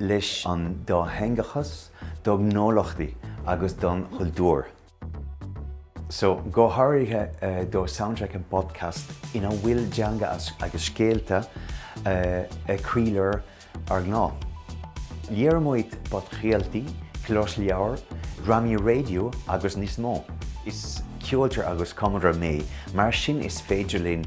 leis an dátheangachas do ghnólachtaí agus don chultúr so, go háirithe do Soundtrack and Podcast ina bhfuil teanga agus scéalta i gcroílár ár ngnó. Léirímid podchraoltaí, closleabhair, drámaí raidió agus níos mó. Is ceoltóir agus cumadóir mé, mar sin is féidir linn